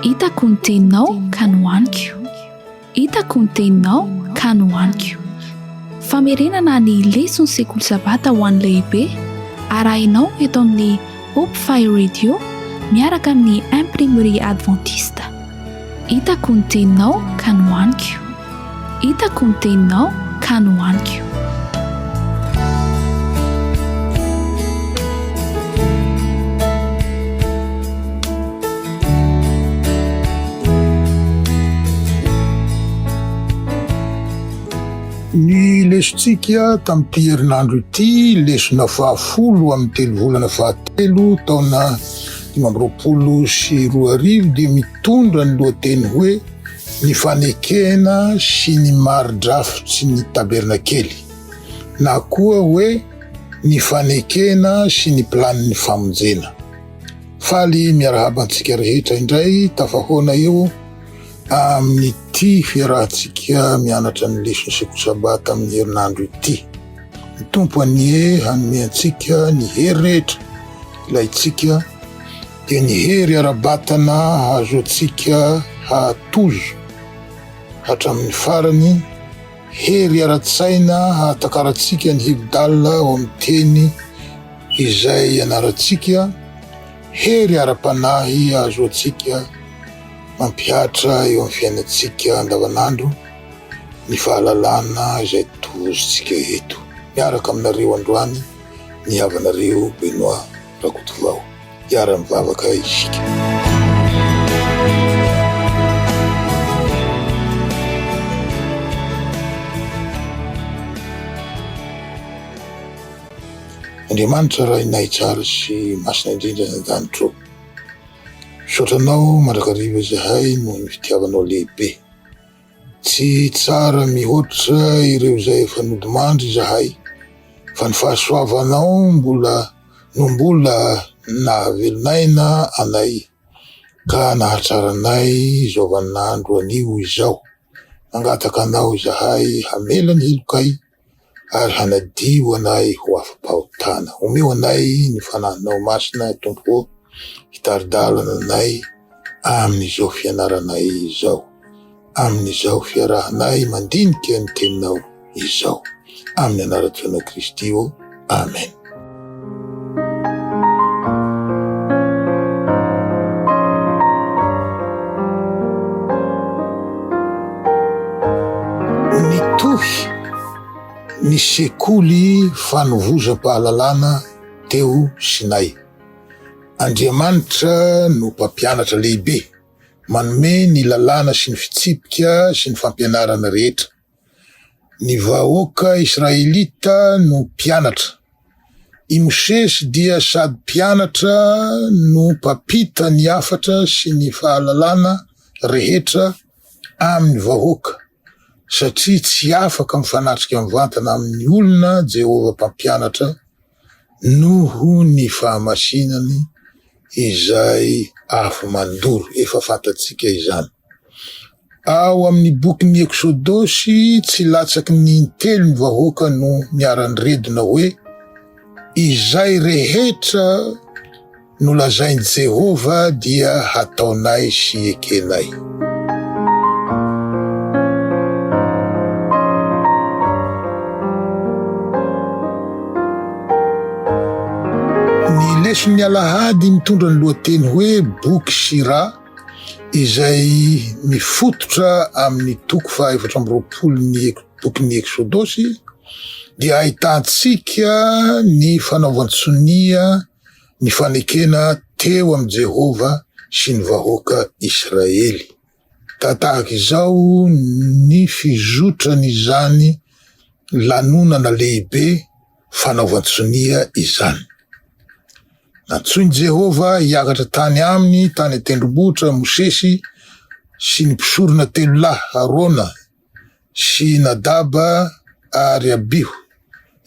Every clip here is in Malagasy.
Hitako ny teninao ka nohaniko. Hitako ny teninao ka nohaniko. Famerenana ny leson'ny sekoly sabata ho an'ny lehibe arahinao eto amin'ny Hope Fire Radio miaraka amin'ny Imprimerie Adventiste. Hitako ny teninao ka nohaniko Hitako ny teninao ka nohaniko Ny lesontsika tamin'ity herinandro ity lesona fahafolo amin'ny telovolana fahatelo taona dimy amby roapolo sy roa arivo dia mitondra ny lohateny hoe Ny fanekena sy ny mari-drafitry ny tabernakely na koa hoe Ny fanekena sy ny planin'ny famonjena. Faly miarahaba antsika rehetra indray tafahaona eo Amin'ity fiarahantsika mianatra ny leson'ny sekoly Sabata amin'ny herinandro ity, ny Tompo anie hanome antsika ny hery rehetra ilaintsika, dia ny hery ara-batana hahazoantsika hahatozo hatramin'ny farany, hery ara-tsaina hahatakarantsika ny Hibdal ao amin'ny teny izay ianarantsika, hery ara-panahy hahazoantsika Mampihatra eo amin'ny fiainantsika andavanandro ny fahalalana izay tohozintsika eto. Miaraka aminareo androany ny havanareo Benoît Rakotovao. Hiara-mivavaka isika. Andriamanitra Rainay tsara sy masina indrindra any an-danitra ao. Misaotra anao mandrakariva izahay noho ny fitiavanao lehibe. Tsy tsara mihoatra ireo izay efa nodimandry izahay fa ny fahasoavanao mbola no mbola nahavelonaina anay ka nahatsara anay izao vaninandro anio izao. Mangataka anao izahay hamela ny helokay. ary hanadio anay ho afa-pahotana. Omeo anay ny Fanahinao Masina, Tompo ô, hitari-dalana anay amin'izao fianaranay izao, amin'izao fiarahanay mandinika ny Teninao izao. Amin'ny anaran'i Feno Kristy ô. Amen. ny sekoly fanovozam-pahalalana teo Sinay. Andriamanitra no mpampianatra lehibe, manome ny lalàna sy ny fitsipika sy ny fampianarana rehetra. Ny vahoaka israelita no mpianatra. I Mosesy dia sady mpianatra no mpampita ny hafatra sy ny fahalalana rehetra amin'ny vahoaka, satria tsy afaka mifanatrika mivantana amin'ny olona Jehovah Mpampianatra. Noho ny fahamasinany izay afo mandoro, efa fantatsika izany. Ao amin'ny bokin'ny Eksodosy, tsy latsaky ny intelo ny vahoaka no niara-niredona hoe, Izay rehetra, nolazain'i Jehovah dia hataonay sy ekenay. Ny leson'ny alahady mitondra ny lohateny hoe Boky sy Ra, izay mifototra amin'ny toko fahaefatra amby roapolon'ny bokin'ny Eksodosy, dia ahitantsika ny fanaovan-tsonia Ny fanekena teo amin'i Jehovah sy ny vahoaka Israely. Tahaka izao ny fizotran'izany lanonana lehibe fanaovan-tsonia izany, Nantsoin'i Jehovah hiakatra tany aminy tany an-tendrombohitra Mosesy sy ny mpisorona telo lahy, Arona, sy i Nadaba ary Abiho.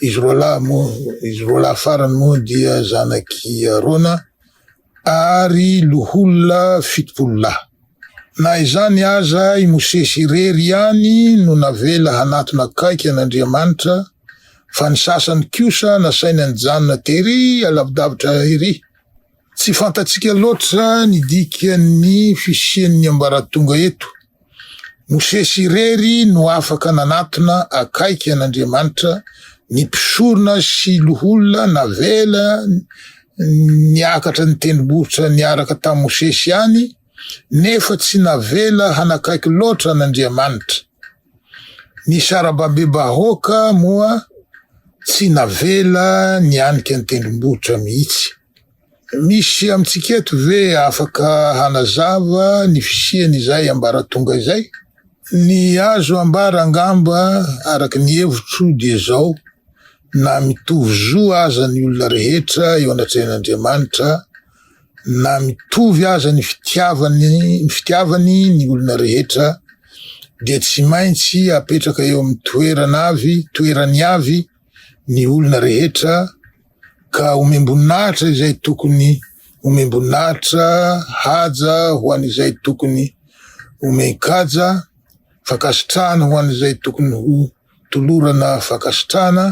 Izy roa lahy moa, izy roa lahy farany moa dia zanak'i Arona ary loholona fitopolo lahy. Na izany aza, i Mosesy irery ihany no navela hanatona akaiky an'Andriamanitra, fa ny sasany kosa nasainy nijanona terỳ alavidavitra erỳ. Tsy fantatsika loatra ny dikan'ny fisian'ny ambaratonga eto. Mosesy irery no afaka nanatona akaiky an'Andriamanitra ny mpisorona sy loholona navela niakatra ny tendrombohitra niaraka tamin'i Mosesy any, nefa tsy navela hanakaiky loatra an'Andriamanitra. Ny sarababem-bahoaka moa tsy navela nianika ny tendrombohitra mihitsy. Misy amintsika eto ve afaka hanazava ny fisian'izay ambaratonga izay? Ny azo ambara angamba araka ny hevitro dia izao, na mitovy zo aza ny olona rehetra eo anatrehan'Andriamanitra, na mitovy aza ny fitiavany ny fitiavany ny olona rehetra, dia tsy maintsy apetraka eo amin'ny toerana avy toerany avy ny olona rehetra, Ka omem-boninahitra izay tokony omem-boninahitra, haja ho an'izay tokony omen-kaja, fankasitrahana ho an'izay tokony ho tolorana fankasitrahana,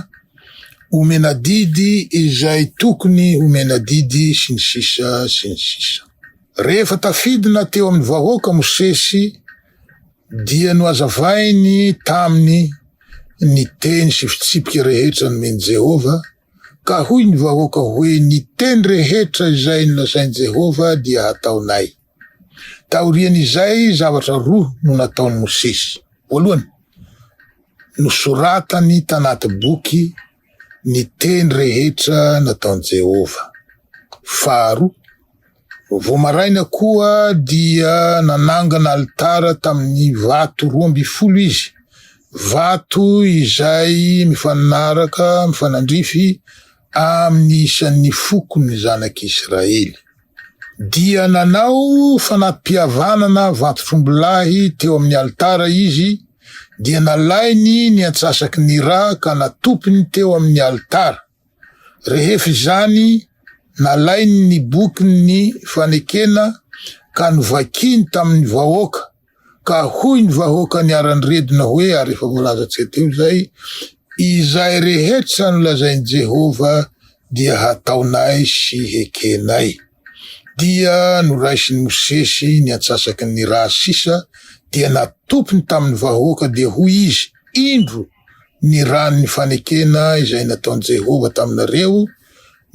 omena didy izay tokony omena didy, sy ny sisa sy ny sisa. Rehefa tafidina teo amin'ny vahoaka Mosesy Dia nohazavainy taminy ny teny sy fitsipika rehetra nomen'i Jehovah, ka hoy ny vahoaka hoe, Ny teny rehetra izay nolazain'i Jehovah dia hataonay. Taorian'izay, zavatra roa no nataon'i Mosesy. Voalohany, nosoratany tanaty boky ny teny rehetra nataon'i Jehovah. Faharoa, vao maraina koa dia nanangana alitara tamin'ny vato roa ambin'ny folo izy, vato izay mifanaraka mifanandrify amin'ny isan'ny fokon'ny zanak'Israely. dia nanao fanam-pihavanana vantotr'ombilahy teo amin'ny alitara izy, dia nalainy ny antsasaky ny ra ka natopiny teo amin'ny alitara. Rehefa izany, nalainy ny bokin'ny fanekena ka novakiny tamin'ny vahoaka, Ka hoy ny vahoaka niara-niredona hoe, ary efa voalaza tsy hay teo izay, Izay rehetra nolazain'i Jehovah dia hataonay sy hekenay. Dia noraisin'i Mosesy ny antsasaky ny rà sisa, dia natopiny tamin'ny vahoaka, dia hoy izy, Indro, ny ràn'ny fanekena izay nataon'i Jehovah taminareo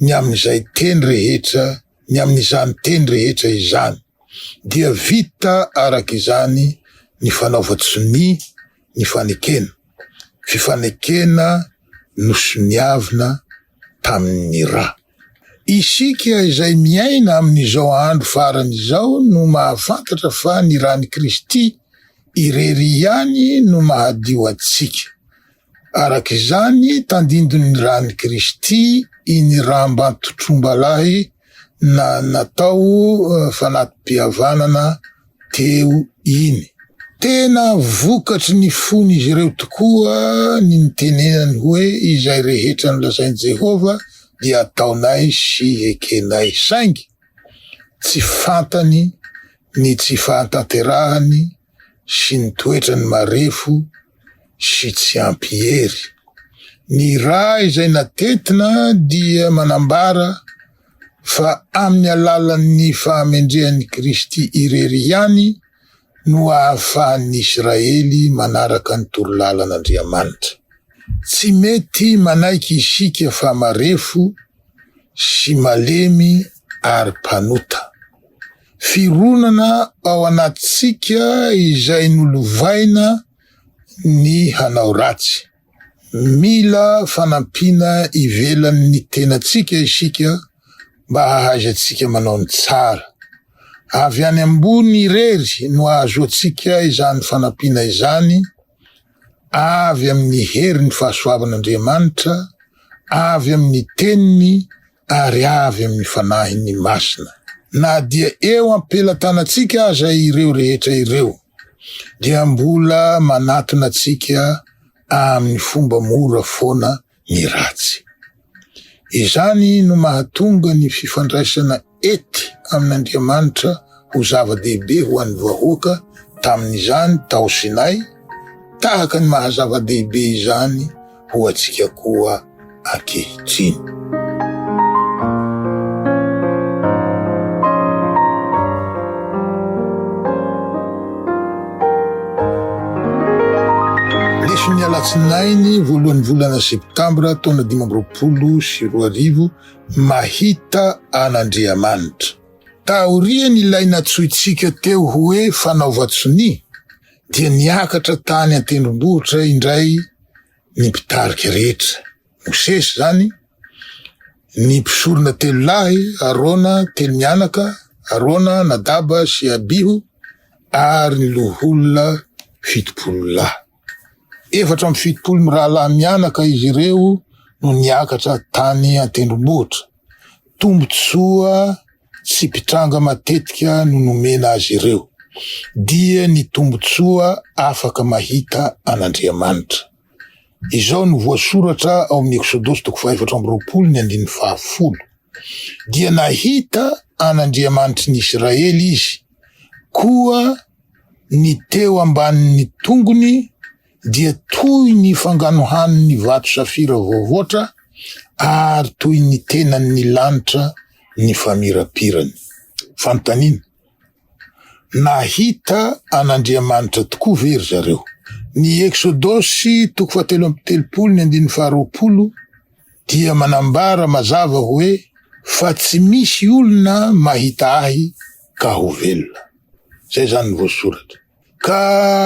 ny amin'izay teny rehetra ny amin'izany teny rehetra izany, dia vita araka izany ny fanaovan-tsonia ny fanekena, fifanekena nosoniavina tamin'ny ra. Isika izay miaina amin'izao andro farany izao no mahafantatra fa ny ran'i Kristy irery ihany no mahadio antsika, Araka izany, tandindon'ny ran'i Kristy iny rambam-pitrombalahy na natao fanati-pihavanana teo iny. Tena vokatry ny fon'izy ireo tokoa ny nitenenany hoe, Izay rehetra nolazain'i Jehovah dia ataonay sy ekenay. Saingy tsy fantany ny tsy fahatanterahany sy ny toetrany marefo sy tsy ampy hery. Ny ra izay natentina dia manambara fa amin'ny alalan'ny fahamendrehan'i Kristy irery ihany no ahafahan'ny Israely manaraka ny toro lalan'Andriamanitra. Tsy mety manaiky isika fa marefo sy malemy ary mpanota. Fironana ao anatintsika izay nolovaina ny hanao ratsy. Mila fanampiana ivelan'ny tenantsika isika mba hahaizantsika manao ny tsara. Avy any ambony irery no ahazoantsika izany fanampiana izany, avy amin'ny herin'ny fahasoavan'Andriamanitra, avy amin'ny Teniny, ary avy amin'ny Fanahiny Masina. Na dia eo am-pelatanantsika aza ireo rehetra ireo, dia mbola manatona antsika amin'ny fomba mora foana ny ratsy. Izany no mahatonga ny fifandraisana ety amin'Andriamanitra ho zava-dehibe ho an'ny vahoaka tamin'izany tao Sinay, tahaka ny maha zava-dehibe izany ho antsika koa ankehitriny. Lesonin'ny alatsinainy voalohan'ny volana septambra taona dimy amby roapolo sy roa arivo, Mahita an'Andriamanitra. Taorian'ilay nantsointsika teo hoe fanaovan-tsonia, dia niakatra tany an-tendrombohitra indray ny mpitarika rehetra, Mosesy izany, ny mpisorona telo lahy, Arona, telo mianaka, Arona, Nadaba sy Abiho, ary ny loholona fitopolo lahy. Efatra amby fitopolo mirahalahy mianaka izy ireo no niakatra tany an-tendrombohitra. Tombontsoa tsy mpitranga matetika no nomena azy ireo, dia ny tombontsoa afaka mahita an'Andriamanitra. Izao no voasoratra ao amin'ny Eksodosy toko fahefatra amby roapolo ny andininy fahafolo, Dia nahita an'Andriamanitry ny Isiraely izy, koa Ny teo ambanin'ny tongony dia toy ny fanganohan'ny vato safira voavoatra, ary toy ny tenan'ny lanitra ny famirapirany. Fanontaniana, Nahita an'Andriamanitra tokoa ve ry zareo? Ny Eksodosy toko fahatelo amby telopolo ny andininy faharoapolo dia manambara mazava hoe, Fa tsy misy olona mahita Ahy, ka ho velona. Zay zany ny voasoratra. Ka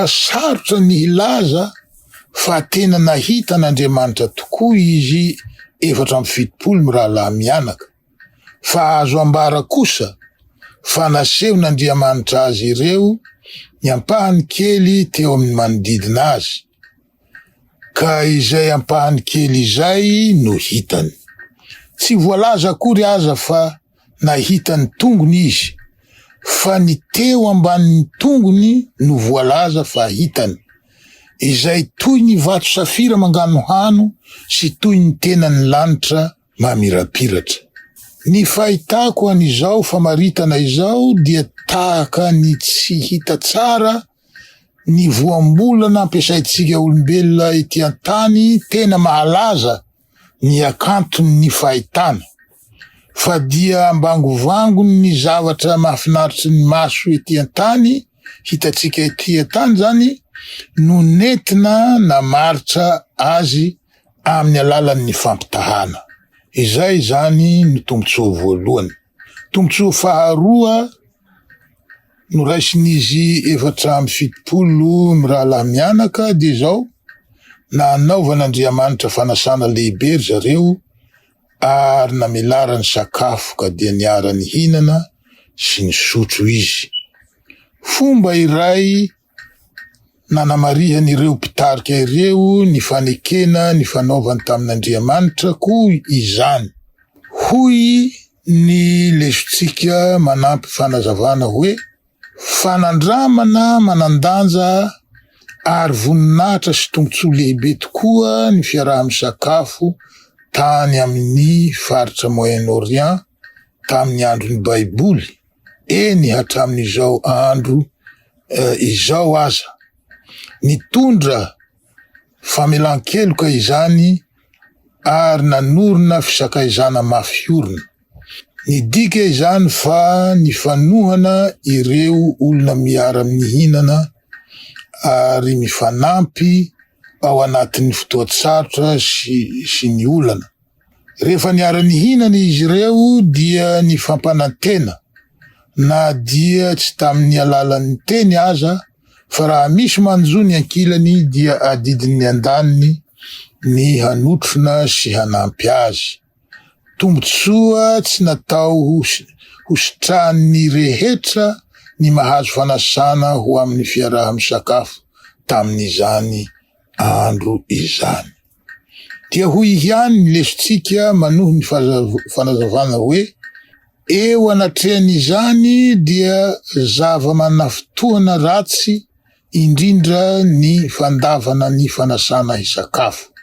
sarotra ny hilaza fa tena nahita an'Andriamanitra tokoa izy efatra amby fitopolo mirahalahy mianaka, fa azo ambara kosa fa nasehon'Andriamanitra azy ireo ny ampahany kely teo amin'ny manodidina azy, ka izay ampahany kely izay no hitany. Tsy voalaza akory aza fa nahita ny tongony izy fa ny teo ambanin'ny tongony no voalaza fa hitany, izay toy ny vato safira manganohano sy toy ny tenan'ny lanitra mamirapiratra. Ny fahitako an'izao famaritana izao dia tahaka ny tsy hita tsara ny voambolana ampiasaintsika olombelona ety an-tany tena mahalaza ny hakanton' ny fahitana, fa dia ambangovangony ny zavatra mahafinaritry ny maso ety an-tany, hitantsika ety an-tany izany, no nentina namaritra azy amin' ny alalan' ny fampitahana. Izay izany no tombotsoa voalohany. Tombontsoa faharoa noraisin'izy efatra amby fitopolo mirahalahy mianaka dia izao, nanaovan'Andriamanitra fanasana lehibe ry zareo ary namelarany sakafo ka dia niara-nihinana sy nisotro izy. Fomba iray Nanamarihan'ireo mpitarika ireo ny fanekena nifanaovany tamin'Andriamanitra koa izany. Hoy ny lesontsika manampy fanazavana hoe, Fanandramana manan-danja ary voninahitra sy tombontsoa lehibe tokoa ny fiaraha-misakafo tany amin'ny faritra Moyen-Orient tamin'ny andron'ny Baiboly. eny hatramin'izao andro izao aza. Nitondra famelan-keloka izany ary nanorina fisakaizana mafy orina. Nidika izany fa nifanohana ireo olona miara-mihinana ary mifanampy ao anatin'ny fotoan-tsarotra sy ny olana. Rehefa niara-nihinana izy ireo dia nifampanantena, na dia tsy tamin'ny alalan'ny teny aza, fa raha misy manjo ny ankilany dia adidin'ny andaniny ny hanotrona sy hanampy azy. Tombontsoa tsy natao hositrahan'ny rehetra ny mahazo fanasana ho amin'ny fiaraha-misakafo tamin'izany andro izany. Dia hoy ihany ny lesotsika manohy ny fanazavana hoe, Eo anatrehan'izany dia zava-manafintohina ratsy indrindra ny fandavana ny fanasana hisakafo.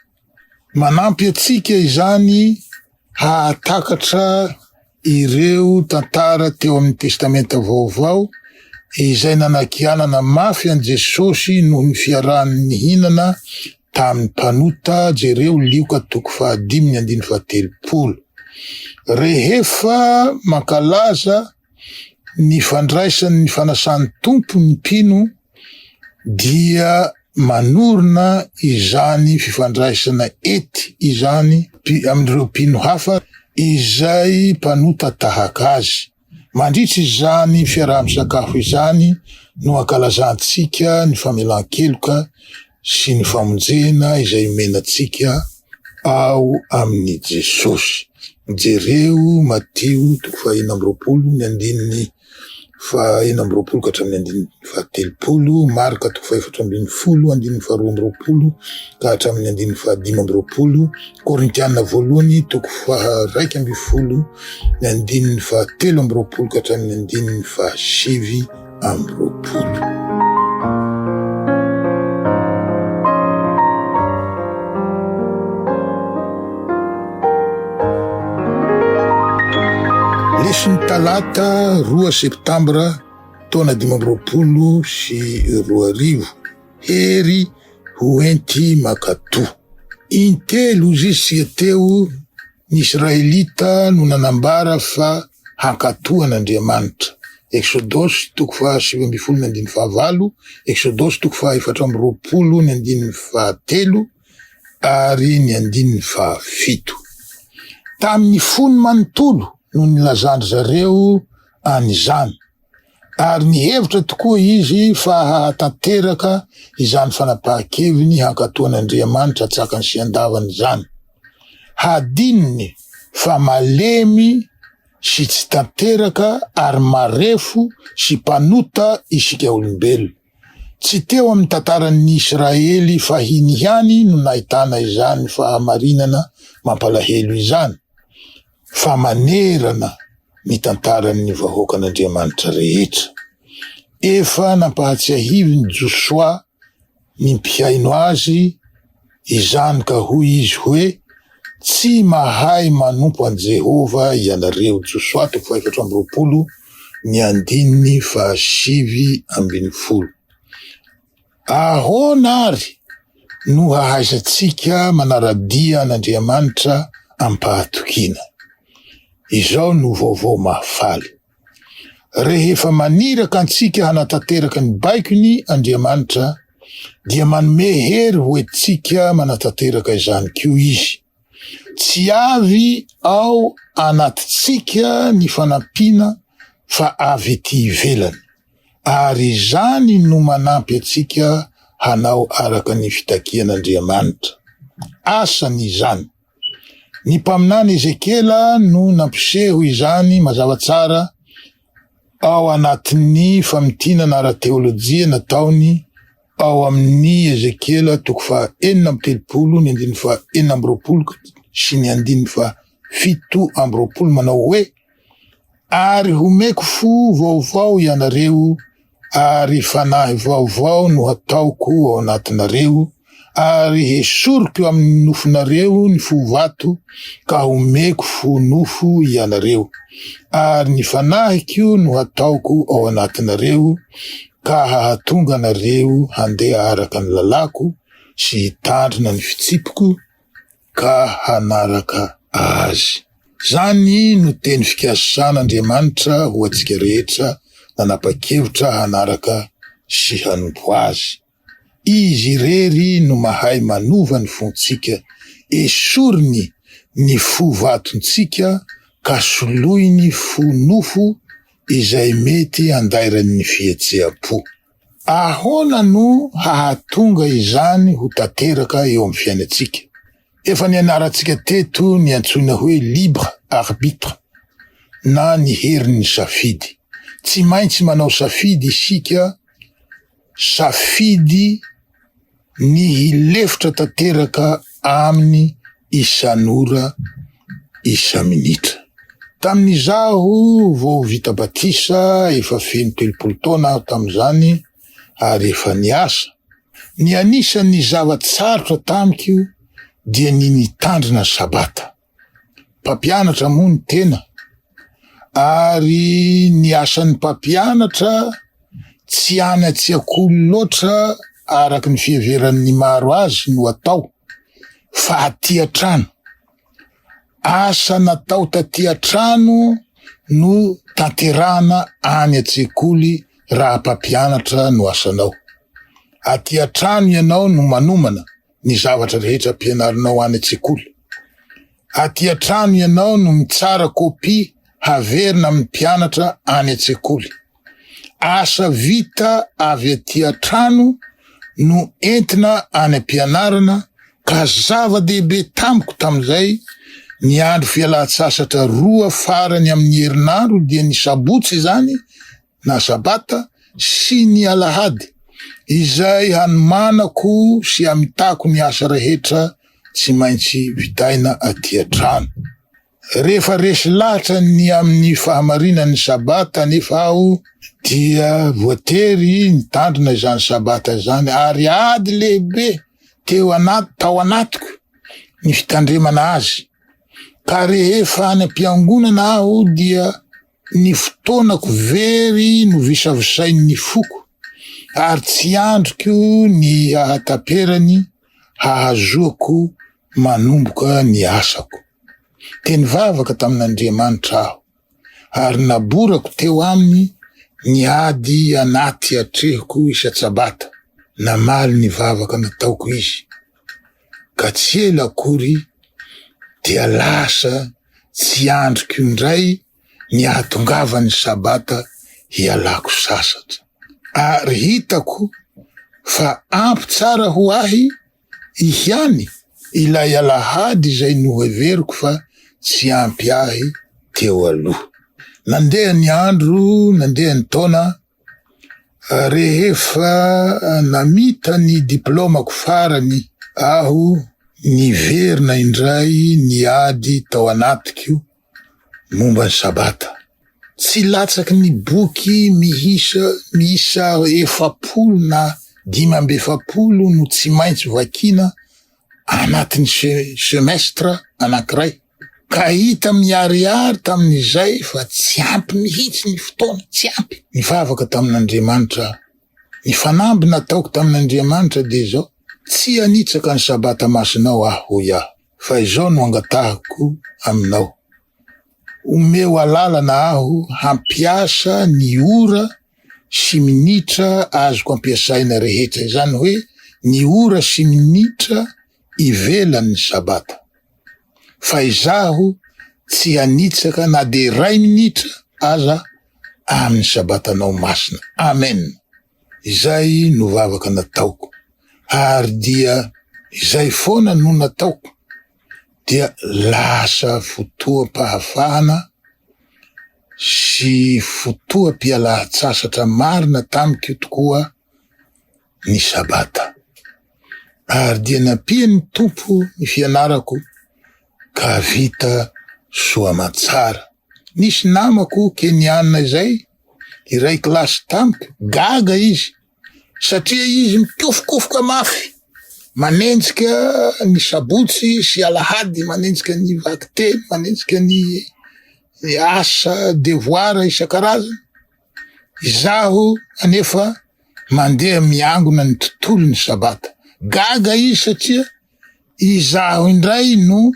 Manampy antsika izany hahatakatra ireo tantara teo amin'ny Testamenta Vaovao izay nanakianana mafy an'i Jesosy noho ny fiarahany nihinana tamin'ny mpanota, jereo Lioka toko fahadimy ny andininy fahatelopolo. Rehefa mankalaza ny fandraisany ny fanasan'ny Tompo ny mpino dia manorina izany fifandraisana ety izany amin'ireo mpino hafa izay mpanota tahaka azy. Mandritra izany fiaraha-misakafo izany no ankalazantsika ny famelan-keloka sy ny famonjena izay omena antsika ao amin'i Jesosy. Jereo Matio toko fahenina amby roapolo ny andininy fahenina amby roapolo ka hatramin'ny andininy fahatelopolo, Marka toko fahefatra ambin'ny folo andininy faharoa amby roapolo ka hatramin'ny andininy fahadimy amby roapolo, Korintiana voalohany toko faharaika ambin'ny folo ny andininy fahatelo amby roapolo ka hatramin'ny andininy fahasivy. amby roapolo. Lesin'ny talata roa septambra taona dimy amby roapolo sy roa arivo, hery ho enti makatoa. Intelo zy sy teo ny Israelita no nanambara fa Hankatò an'Andriamanitra. Eksodosy toko faha sivy ambin'ny folo ny andininy faha valo, Eksodosy toko faha efatra amby roapolo ny andininy faha telo ary ny andininy faha fito. Tamin'ny fony manontolo no nilazan-dry zareo an'izany. ary nihevitra tokoa izy fa hahatanteraka izany fanapahan-keviny hankatò an'Andriamanitra an-tsakany sy an-davany izany. Hadinony fa malemy sy tsy tanteraka ary marefo sy mpanota isika olombelona. Tsy teo amin'ny tantaran'ny Israely fahiny ihany no nahitana izany fahamarinana mampalahelo izany. fa manerana ny tantaran'ny vahoakan'Andriamanitra rehetra. Efa nampahatsiahivin'i Josoa ny mpihaino azy izany ka hoy izy hoe, Tsy mahay manompo an'i Jehovah ianareo. Josoa toko fahefatra amby roapolo, ny andininy fahasivy ambin'ny folo. Ahoana àry no hahaizantsika manara-dia an'Andriamanitra amim-pahatokiana? Izao no vaovao mahafaly, Rehefa maniraka antsika hanatanteraka ny baikony Andriamanitra, dia manome hery ho antsika manatanteraka izany koa izy. Tsy avy ao anatintsika ny fanampiana fa avy etỳ ivelany. ary izany no manampy antsika hanao araka ny fitakian'Andriamanitra. Asany izany. Ny mpaminany Ezekiela no nampiseho izany mazava tsara ao anatin'ny famintinana ara-teolojia nataony ao amin'ny Ezekiela toko faha-enina amby telopolo, ny andininy faha-enina amby roapolo sy ny andininy faha-fito amby roapolo manao hoe, Ary homeko fo vaovao ianareo, ary fanahy vaovao no hataoko ao anatinareo, ary hesoriko eo amin'ny nofonareo ny fo vato, ka homeko fo nofo ianareo, ary ny fanahiko no hataoko ao anatinareo, ka hahatonga anareo handeha araka ny lalàko, sy hitandrina ny fitsipiko, ka hanaraka Azy. Izany no teny fikasan' Andriamanitra ho antsika rehetra nanapa-kevitra hanaraka sy hanompo Azy. Izy irery no mahay manova ny fontsika, esoriny ny fo vatontsika ka soloiny fo nofo izay mety andairan'ny fihetseham-po. Ahoana no hahatonga izany ho tanteraka eo amin'ny fiainantsika? Efa nianarantsika teto ny antsoina hoe libre arbitre na ny herin'ny safidy. Tsy maintsy manao safidy isika, safidy. ny hilefitra tanteraka aminy isan'ora isa-minitra. Tamin'izaho vao vita batisa, efa feno telopolo taona aho tamin'izany ary efa niasa, ny anisan'ny zava-tsarotra tamiko dia ny nitandrina Sabata. mpampianatra moa ny tena ary ny asan'ny mpampianatra tsy any an-tsekoly loatra araka ny fiheveran'ny maro azy no atao fa aty an-trano asa natao taty an-trano no tanterahana any an-tsekoly raha mpampianatra no asanao aty an-trano ianao no manomana ny zavatra rehetra ampianarinao any an-tsekoly. Aty an-trano ianao no mitsara kopia haverina amin'ny mpianatra any an-tsekoly. Asa vita avy aty an-trano no entina any am-pianarana ka zava-dehibe tamiko tamin'izay ny andro fialan-tsasatra roa farany amin'ny herinandro dia ny sabotsy izany na Sabata, sy ny Alahady, izay hanomanako sy hamitako ny asa rehetra tsy maintsy vitaina aty an-trano. Rehefa resy lahatra ny amin'ny fahamarinan'ny Sabata anefa aho, dia voatery nitandrina izany Sabata izany, ary ady lehibe teo anaty, tao anatiko ny fitandremana azy. Ka rehefa any am-piangonana aho, dia. Ny fotoanako very novisavisain'ny foko ary tsy andriko ny hahataperany hahazoako manomboka ny asako. Dia nivavaka tamin'Andriamanitra aho ary naborako teo aminy ny ady anaty atrehiko isan-tsabata, namaly ny vavaka nataoko izy. ka tsy ela akory dia lasa tsy andriko indray ny hahatongavan'ny Sabata hialako sasatra. Ary hitako fa ampy tsara ho ahy ihany ilay Alahady izay noheveriko fa tsy ampy ahy teo aloha. Nandeha ny andro, nandeha ny taona, Rehefa namita ny diplaomako farany aho, niverina indray ny ady tao anatiko momba ny Sabata. Tsy latsaky ny boky miisa miisa efapolo na dimy amby efapolo no tsy maintsy vakiana anatin'ny se-semestra anankiray. Ka hita miharihary tamin'izay fa tsy ampy mihitsy ny fotoana, tsy ampy. Nivavaka tamin'Andriamanitra aho. Ny fanamby nataoko tamin'Andriamanitra dia izao, Tsy hanitsaka ny Sabata masinao aho, hoy aho, fa izao no angatahiko aminao, omeo alalana aho hampiasa ny ora sy minitra azoko ampiasaina rehetra, izany hoe ny ora sy minitra ivelan'ny Sabata. fa izaho tsy hanitsaka na dia iray minitra aza amin'ny Sabatanao masina. Amen! Izay no vavaka nataoko, ary dia izay foana no nataoko, dia lasa fotoam-pahafahana sy fotoam-pialan-tsasatra marina tamiko tokoa ny Sabata. ary dia nampian'ny Tompo ny fianarako ka vita soa aman-tsara. Nisy namako Keniana izay hiray kilasy tamiko, gaga izy satria izy mikofokofoka mafy manenjika ny sabotsy sy alahady, manenjika ny vakiteny, manenjika ny asa devoara isan-karazany. Izaho anefa mandeha miangona ny tontolon'ny Sabata. Gaga izy satria izaho indray no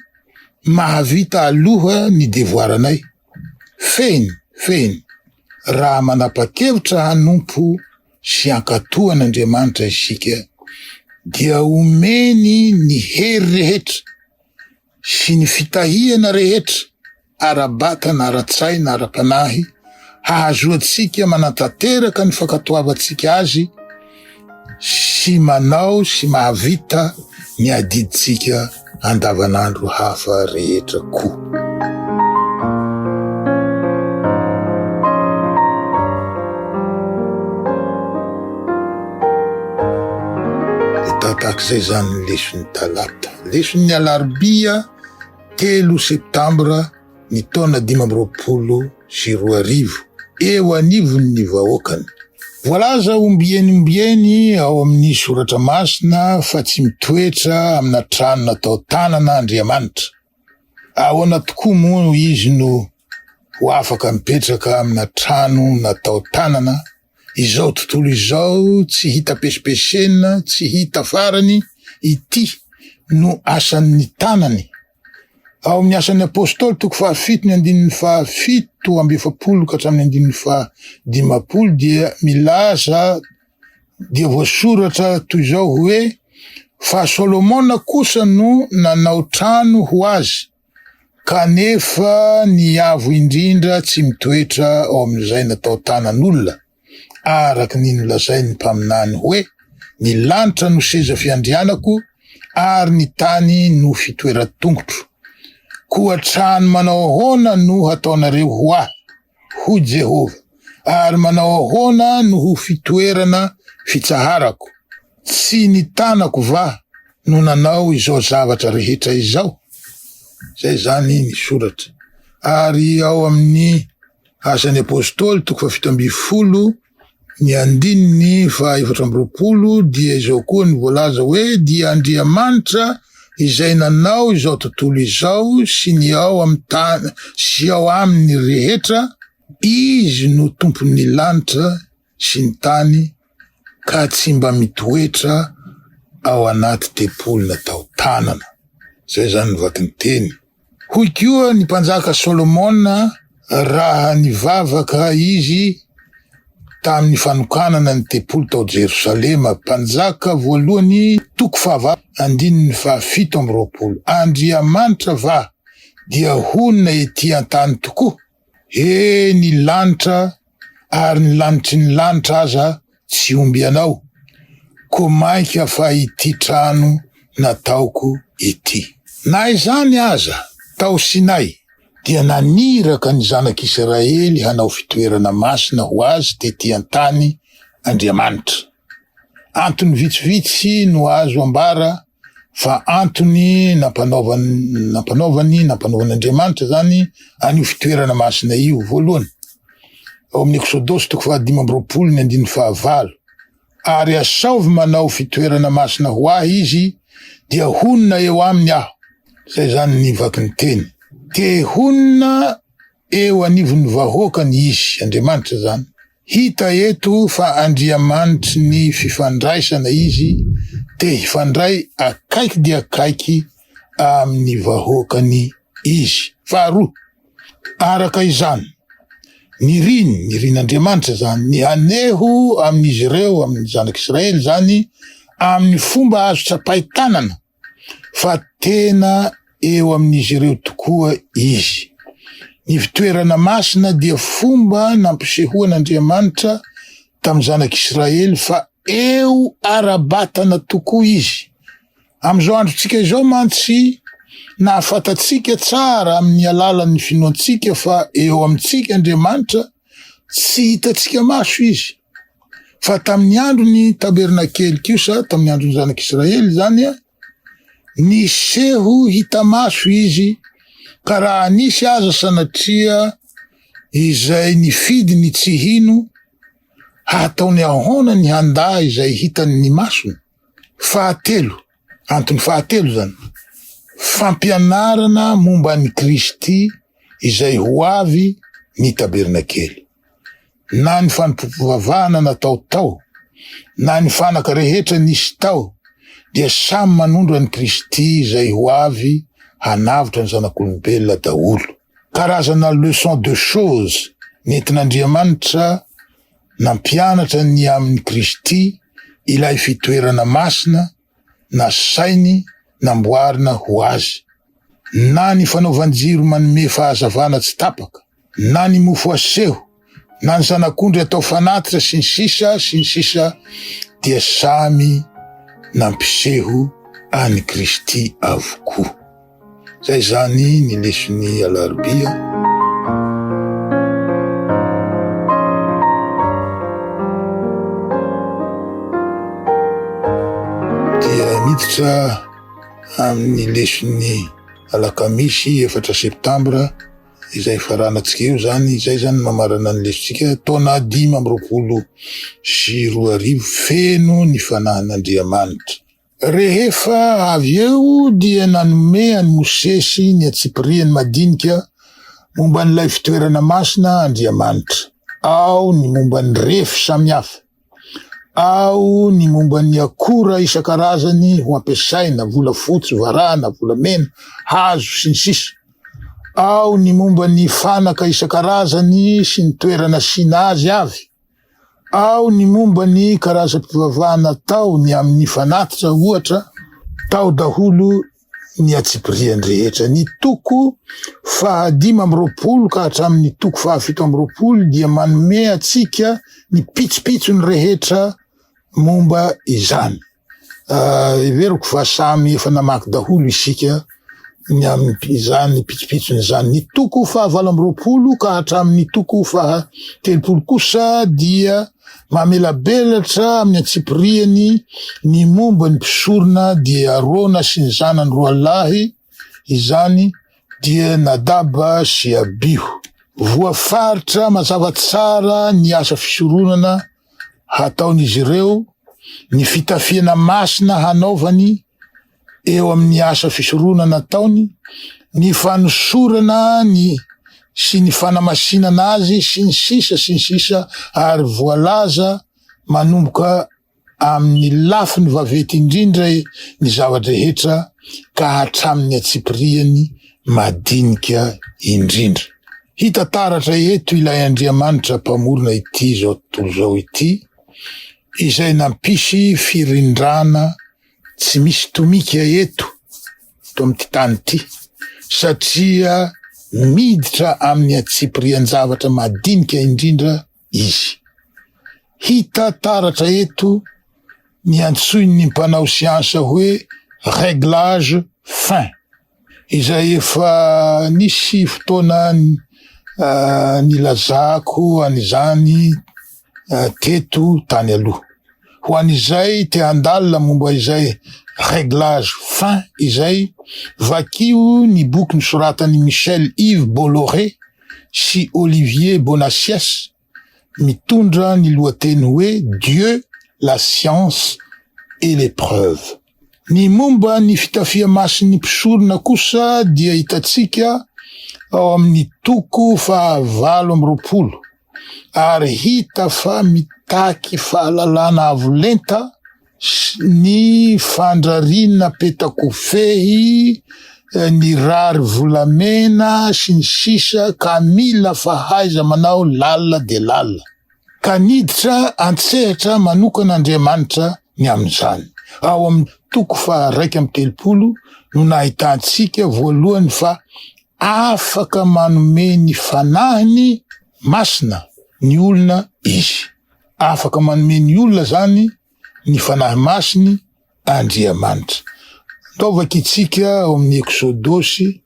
mahavita aloha ny devoaranay. Fehiny, fehiny, raha manapa-kevitra hanompo sy hankatò an'Andriamanitra isika, dia omeny ny hery rehetra sy ny fitahiana rehetra ara-batana, ara-tsaina, ara-panahy hahazoantsika manatanteraka ny fankatoavantsika Azy sy manao sy mahavita ny adidintsika andavanandro hafa rehetra koa. Tahaka izay izany ny leson'ny talata. Lesonin'ny Alarobia telo Septambra ny taona dimy amby roapolo sy roa arivo, eo anivon'ny vahoakany. Voalaza ombieny ombieny ao amin'ny Soratra Masina fa tsy mitoetra amina trano natao tanana Andriamanitra. Ahoana tokoa moa izy no ho afaka mipetraka amina trano natao tanana Izao tontolo izao tsy hita pesipesena, tsy hita farany, ity no asan'ny tanany. Ao amin'ny Asan'ny Apostoly, toko fahafito, ny andininy fahafito amby efapolo ka hatramin'ny andininy fahadimampolo dia milaza dia voasoratra toy izao hoe, Fa Solomona kosa no nanao trano ho azy, Kanefa ny avo indrindra tsy mitoetra ao amin'izay natao tanan'olona, araka ny nolazain'ny mpaminany hoe, Ny lanitra no seza fiandrianako, ary ny tany no fitoeran-tongotro. Koa trano manao ahoana no hataonareo ho ahy? hoy Jehovah, ary manao ahoana no ho fitoerana fitsaharako? Tsy ny tanako va no nanao izao zavatra rehetra izao? Izay izany ny soratra. Ary ao amin'ny Asan'ny Apostoly, toko fahafito ambin'ny folo, Ny andininy fahaefatra amby roapolo dia izao koa ny voalaza hoe, Dia Andriamanitra izay nanao izao tontolo izao sy ny ao amin'ny tany sy ao aminy rehetra, Izy no Tompon'ny lanitra sy ny tany ka tsy mba mitoetra ao anaty tempoly natao tanana. Izay izany ny vaky ny teny. Hoy koa ny mpanjaka Solomona raha nivavaka izy tamin'ny fanokanana ny tempoly tao Jerosalema, Mpanjaka voalohany toko fahavalo andininy fahafito amby roapolo, Andriamanitra va dia honina ety an-tany tokoa? He ny lanitra ary ny lanitry ny lanitra aza tsy omby anao ko mainka fa ity trano nataoko ity. Na izany aza, tao Sinay dia naniraka ny zanak'Israely hanao fitoerana masina ho Azy tety an-tany Andriamanitra. Antony vitsivitsy no azo ambara fa antony nampanaovany nampanaovany nampanaovan'Andriamanitra zany an'io fitoerana masina io voalohany ao amin'ny Eksodosy toko fahadimy amby roapolo ny andininy fahavalo ary asaovy manao fitoerana masina ho ahy izy dia honina eo aminy aho zay zany ny vaky ny teny te honina Eo anivon'ny vahoakany Izy, Andriamanitra izany. Hita eto fa Andriamanitry ny fifandraisana Izy, te hifandray akaiky dia akaiky amin'ny vahoakany Izy. Faharoa, araka izany, niriny, nirin'Andriamanitra izany, ny haneho amin'izy ireo, amin'ny Zanak'Israely izany, amin'ny fomba azo tsapain-tanana, fa tena eo amin'izy ireo tokoa izy. Ny fitoerana masina dia fomba nampisehoan'Andriamanitra tamin'ny zanak'Israely fa eo ara-batana tokoa izy. Amin'izao androntsika izao mantsy, nahafantatsika tsara amin'ny alalan'ny finoantsika fa eo amintsika Andriamanitra, tsy hitantsika maso izy fa tamin'ny andro ny tabernakely kosa tamin'ny andron'ny zanak'israely zany a ny seho hita maso izy ka raha nisy aza sanatria izay ny fidy ny tsy hino hataony ahoana ny handa izay hitan'ny masony fahatelo Antony fahatelo izany, fampianarana momba an'i Kristy izay ho avy ny tabernakely. Na ny fanompoam-pivavahana natao tao, na ny fanaka rehetra nisy tao dia samy manondro an'i Kristy izay ho avy hanavotra ny zanak'olombelona daholo. Karazana leçon de choses nentin'Andriamanitra nampianatra ny amin'i Kristy ilay fitoerana masina nasainy namboarina ho azy. Na ny fanaovan-jiro manome fahazavana tsy tapaka, na ny mofo aseho, na ny zanak'ondry atao fanatitra sy ny sisa sy ny sisa dia samy nampiseho an'i Kristy avokoa. Zay zany ny leson'ny alarobia. miditra amin'ny leson'ny alakamisy efatra septambra Izay hifaranantsika eo izany, izay izany no mamarana ny lesotsika, taona dimy amby roapolo sy roa arivo feno ny fanahin'Andriamanitra. Rehefa avy eo dia nanome an'i Mosesy ny antsipirihany madinika momba an'ilay fitoerana masina Andriamanitra, ao ny momba ny refy samihafa. Ao ny momba ny akora isan-karazany ho ampiasaina, volafotsy, varahina, volamena, hazo, sy ny sisa Ao ny momba ny fanaka isan-karazany sy ny toerana asiana azy avy Ao ny momba ny karazam-pivavahana atao ny amin'ny fanatitra, ohatra, tao daholo ny antsipiriany rehetra. Ny toko fahadimy amby roapolo ka hatramin'ny toko fahafito amby roapolo dia manome antsika ny pitsopitsony rehetra momba izany. Heveriko fa samy efa namaky daholo isika ny amin'izany pitsopitsony izany. Ny toko fahavalo amby roapolo ka hatramin'ny toko fahatelopolo kosa dia Mamelabelatra amin'ny antsipiriany ny momba ny mpisorona dia Arona sy ny zanany roa lahy, izany dia Nadaba sy Abiho. Voafaritra mazava tsara ny asa fisoronana hataon'izy ireo, ny fitafiana masina hanaovany, eo amin'ny asa fisoronana ataony, ny fanosorana ny sy ny fanamasinana azy sy ny sisa sy ny sisa ary voalaza manomboka amin'ny lafiny vaventy indrindra ny zava-drehetra ka hatramin'ny antsipirihany madinika indrindra. Hita taratra eto ilay Andriamanitra Mpamorona ity izao tontolo izao ity izay nampisy firindrana Tsy misy tomika eto, eto amin'ity tany ity, satria miditra amin'ny antsipirian-javatra madinika indrindra izy. Hita taratra eto ny antsoin'ny mpanao siansa hoe réglage fin. izay efa nisy fotoana nilazako an'izany teto tany aloha. Ho an'izay te handalina momba izay réglage fin izay, vakio ny boky nosoratan'i Michel Yves Bolloré sy Olivier Bonacieux, mitondra ny lohateny hoe Dieu, la science et les preuves. Ny momba ny fitafiamasin'ny mpisorona kosa dia hitantsika ao amin'ny toko fahavalo amby roapolo, ary hita fa mitaky fahalalana avo lenta ny fandrariana petakofehy, eh, ny rary volamena sy ny sisa ka mila fahaiza manao lalina dia lalina. Ka niditra an-tsehatra manokana Andriamanitra ny amin'izany. Ao amin'ny toko faha raika amby telopolo no nahitantsika voalohany fa afaka manome ny fanahiny masina ny olona izy. Afaka manome ny olona izany ny Fanahy Masiny Andriamanitra. Ndaovaka itsika ao amin'ny Eksodosy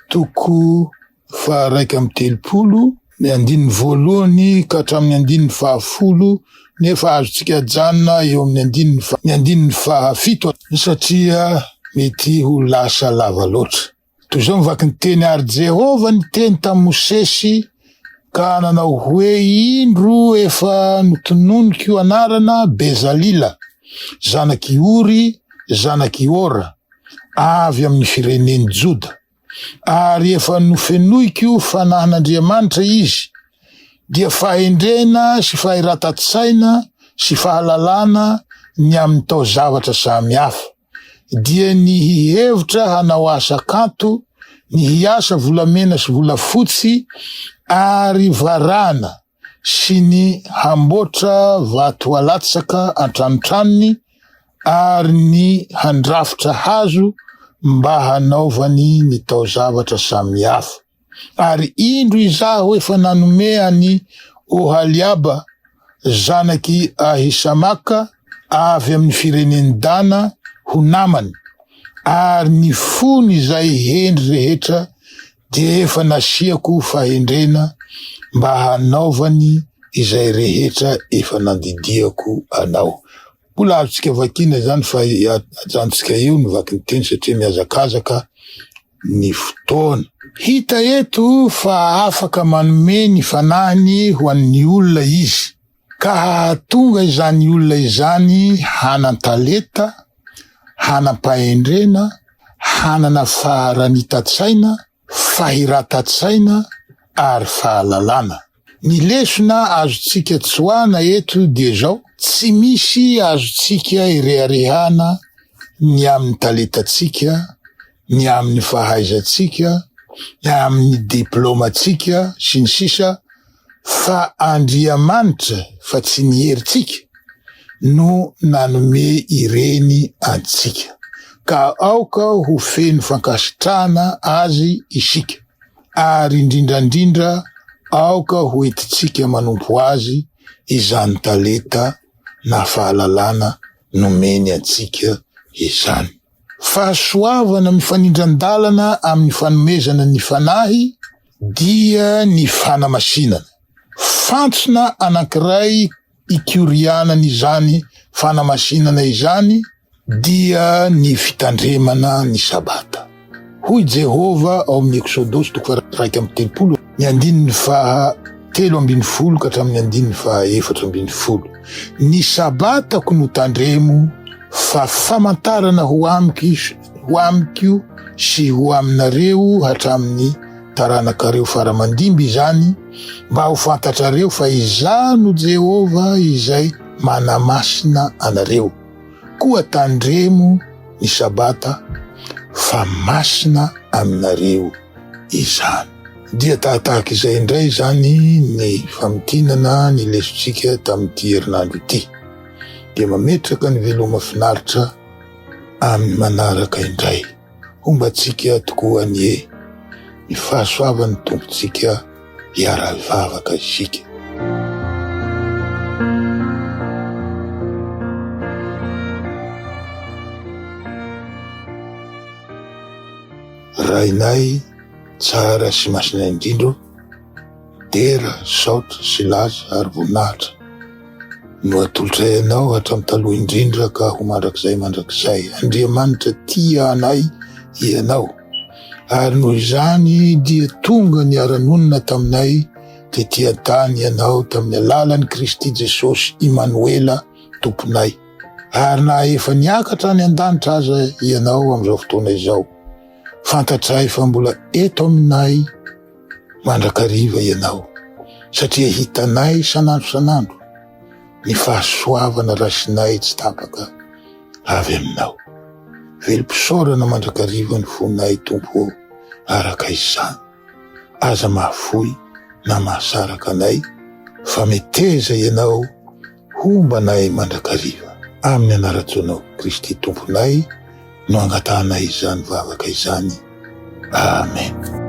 toko faharaika amby telopolo, ny andininy voalohany ka hatramin'ny andininy fahafolo, nefa azontsika ajanona eo amin'ny andininy ny andininy fahafito satria mety ho lasa lava loatra. Toy izao ny vakin'ny teny, Ary Jehovah niteny tamin'i Mosesy ka nanao hoe, Indro efa notononiko anarana Bezalila, zanak'i Ory, zanak'i Hora, avy amin'ny firenen'i Joda, ary efa nofenoiko fanahin'Andriamanitra izy, dia fahendrena sy fahiratan-tsaina sy fahalalana ny amin'ny taozavatra samy hafa. dia ny hihevitra hanao asa kanto, ny hiasa volamena sy volafotsy ary varahana sy ny hamboatra vato alatsaka an-tranotranony ary ny handrafitra hazo mba hanaovany ny taozavatra samihafa. Ary indro Izaho efa nanome an'i Ohaliaba zanak'i Ahisamaka avy amin'ny firenen'i Dana ho namany, ary ny fon'izay hendry rehetra dia efa nasiako fahendrena mba hanaovany izay rehetra efa nandidiako anao. Mbola azontsika vakiana izany fa ajanontsika eo ny vaky ny teny satria mihazakazaka ny fotoana. Hita eto fa afaka manome ny fanahiny ho an'ny olona izy, ka hahatonga izany olona izany hanan-talenta, hanam-pahendrena, hanana faharanitan-tsaina, fahiratan-tsaina ary fahalalana. Ny lesona azontsika tsoahina eto dia izao, tsy misy azontsika ireharehana ny amin'ny talentantsika, ny amin'ny fahaizantsika, ny amin'ny diplaomantsika, sy ny sisa Fa Andriamanitra, fa tsy ny herintsika, no nanome ireny antsika. Ka aoka ho feno fankasitrahana Azy isika. ary indrindra indrindra aoka ho entintsika manompo Azy izany talenta na fahalalana nomeny antsika izany. Fahasoavana mifanindran-dalana amin'ny fanomezana ny Fanahy dia ny fanamasinana. Fantsona anankiray ikorianany izany fanamasinana izany dia ny fitandremana ny Sabata. Hoy Jehovah ao amin'ny Eksodosy toko faha-iraika amby telopolo, ny andininy faha telo ambin'ny folo ka hatramin'ny andininy faha efatra ambin'ny folo, Ny Sabatako no tandremo fa famantarana ho amiko izy, ho amiko sy ho aminareo hatramin'ny taranakareo faramandimby izany, mba ho fantatrareo fa izaho no Jehovah izay manamasina anareo. Koa tandremo ny Sabata, fa masina aminareo izany. Dia tahatahaka izay indray izany ny famintinana ny lesontsika tamin'ity herinandro ity. Dia mametraka ny veloma finaritra. amin'ny manaraka indray. Homba antsika tokoa anie ny fahasoavan'ny Tompontsika hiara-hivavaka isika. Rainay tsara sy masina indrindra ô! Dera, saotra sy laza ary voninahitra no atolotray Anao hatramin'ny taloha indrindra ka ho mandrakizay mandrakizay. Andriamanitra tia anay Ianao, ary noho izany dia tonga niara-nonina taminay tetỳ an-tany Ianao tamin'ny alalan'i Kristy Jesosy Imanoela Tomponay. Ary na efa niakatra any an-danitra aza Ianao amin'izao fotoana izao, fantatray fa mbola eto aminay, mandrakariva ianao satria hitanay isan'andro isan'andro ny fahasoavana rasinay tsy tapaka avy aminao. Velom-pisaorana mandrakariva ny fonay Tompo ô, araka izany. Aza mahafoy na mahasaraka anay fa meteza ianao Homba anay mandrakariva. Amin'ny anaran-tsoanao Kristy Tomponay no angatahanay izany vavaka izany. Amen.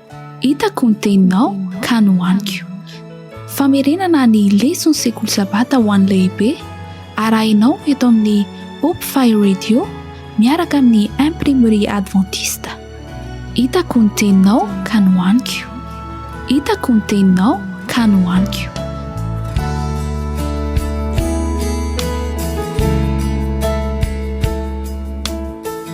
Hitako ny teninao ka nohaniko. Famerenana ny leson'ny Sekoly Sabata ho an'ny Lehibe arahinao eto amin'ny Hope-Fi Radio miaraka amin'ny Imprimerie Adventiste. Hitako ny teninao ka nohaniko. Hitako ny teninao ka nohaniko.